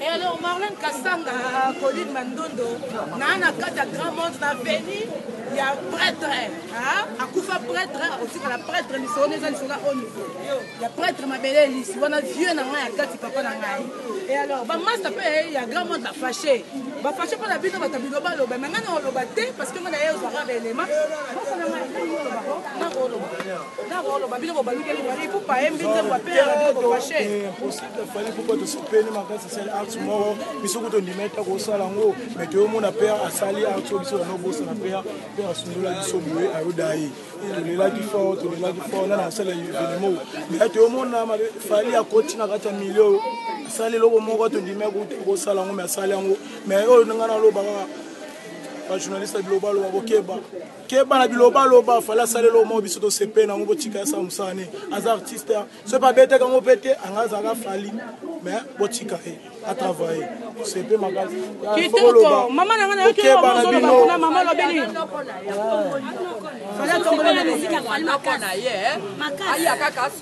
Et alors Marlène Kassanga, Colline Mandondo, na na kati ya grand monde na veni ya prêtre akufa prêtre akotikala prêtre lisolo na eza lisolo o niveau ya prêtre mabele elisi wana vieux na ngai ya kati papa na ngai e alors bamasta mpe ya grand monde bafashe bafashe mpo na bino bato bino baloba me ngai na oloba te parce que ngai na ye ozwaka baelema tosepeli makasi asali art moko biso kutu ondima ete akosala yango me toyomona pere asali art oyo biso banobosana pere pere asundola biso boye ayoda ye tolelaki fort tolelaki fort nana asala evenemo me toyomona fali akoti na kati ya milio oyo asali eloko moko tondimi akuti kosala yango me asali yango me oyo ndenge naloba kaka bajournaliste ya bilobaloba bokeba keba na biloba loba fala salela omo biso tosepe nango botika ya sa mosala ne aza artiste soki babetaka yango mpe te anga azalaka fali mais botika ye atravaille sepe makasi kitoko mama na nga nayokeba na bino na mama lobeli fala tombola na mizika fali makasi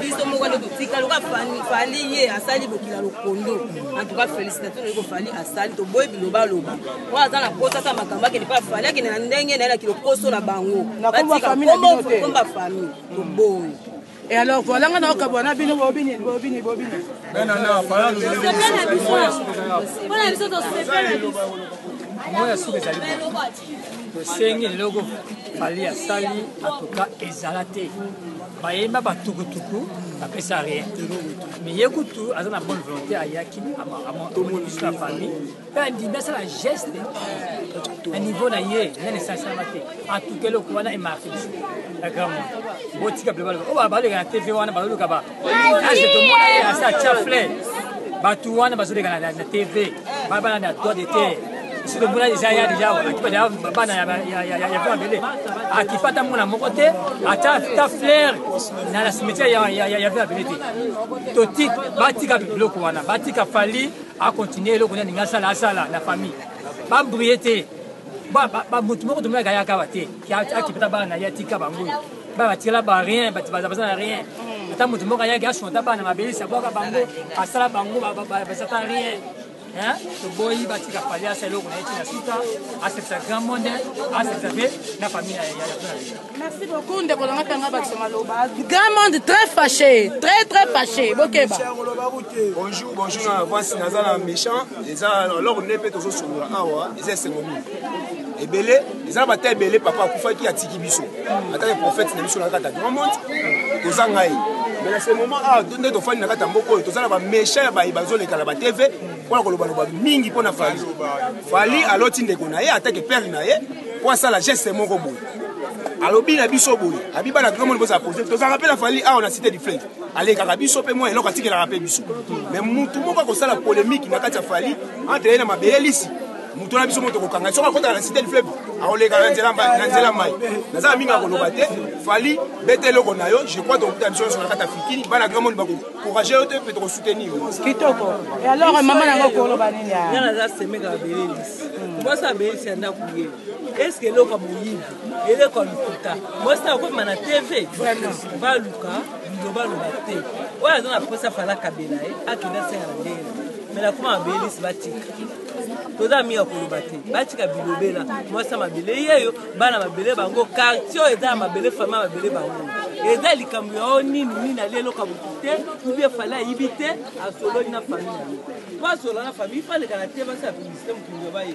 biso moko nde totika loka fali ye asali bokila lokondo antuka félicitation naye kofali asali toboyi bilobaloba oyo aza na posa asa makambo akende mpo afali akende na ndenge naye na kilokoso na bango batikaakomba famille toboyi Et alors, voilà, on a encore un bini, bobini, bobini, bobini. Non, non, non, pas là, nous avons dit. Voilà, nous avons dit. Voilà, nous avons dit. tosengi leloko fali asali atuka ezala te bayemba batukutuku bapesa rien mais ye kutu aza na bonne volonté ayaki amonisi na famille mpe andimi asala geste na niveau na ye nani esansalama te atuka eloko wana emarke biso na grand monde botika ble baloba oyo baleka na tv wana baloluka age tomona ye asa atia flair bato wana bazoleka na tv babana na droit de terre biso tomona deja ya deja akipa deja bana ya vent abele akipa ata mwana moko te ata ta flair na cimetière ya vent abele te toti batika biloko wana batika fali akontinue eloko nani nga asala asala na famille babrie te motu moko tomonaka yaka ba te akipata bana ya tika bango babatela ba rien bato baza na rien mm. ata moto moko ayaki asonta bana mabelisa bwaka bango asala bango bazata rien toboyi batika fali asa eloko na ye tina suka asekisa grand monde asekisa mpe na famille ya merci beaucoup ndeko nanga tanga bakisa maloba grand monde très fâché très très fâché bokeba bonjour bonjour na avance naza na méchant eza eloko nde mpe tozosolola awa eza esengo mingi ebele eza na bata ebele papa akufaki atiki biso ata ye prophète na biso na kata grand monde toza ngai mais na ce moment awa ah, nde tofandi na kata mboka oyo toza na bamécha ya baye bazoleka na batv mpona kolobaloba mingi mpo na fali fali aloti ndeko na ye atake pere na ye mpo asala geste moko boye alobi na biso boye abi bana grand monde bozala pose tozalaka mpe na fali awa na cité du fleuve alekaka biso mpe mwa eloko atikelaka mpe biso mais motu moko akosala polémique na kati ya fali entre ye na mabele lisi moto na biso moto kokanga soki akotaka na cité du fleuve akoleka na nzela mai naza na mingi akoloba te fali bete eloko na yo je crois tokokuta biso nyonso na kati ya fikini bana grand monde bakokourage yo te mpe tokosoutenir kitoko e alors mama nango koloba nini nga naza semeka babelelis mwasi abelisi ya ndako ye eske eloko ya moyibi eleko ya lokuta mwasi na okoma na tv baluka biloba loba te oyo aza na mposa fala kabela ye akenda senga na ndenge me nakoma babelisi batika toza mingi ya koloba te batika bilobela mwasi ya mabele yeyo bana mabele bango quartier oyo eza ya mabele fami ya mabele bango eza likambo ya o nini nini ali eloka motu te ubie fali ayibi te asololi na fami na ye po asolola na fami ifalekana te basala publicité mokili ya baye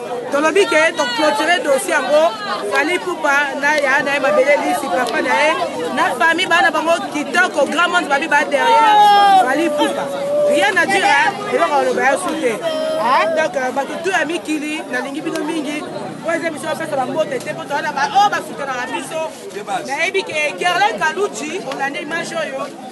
tolobi ke toclotire dossier yango fali pupa na ya na ye mabele lisi papa na ye na famille bana bango kitoko grand monde babi ba derrière fali pupa rien na dire eloko aloba ya su te ah, donc euh, bato tu ya mikili nalingi bino mingi po eza biso bapesa bambote te po towana baoyo oh, basukanaka biso nayebi ke gerlin kaluji olande image oyo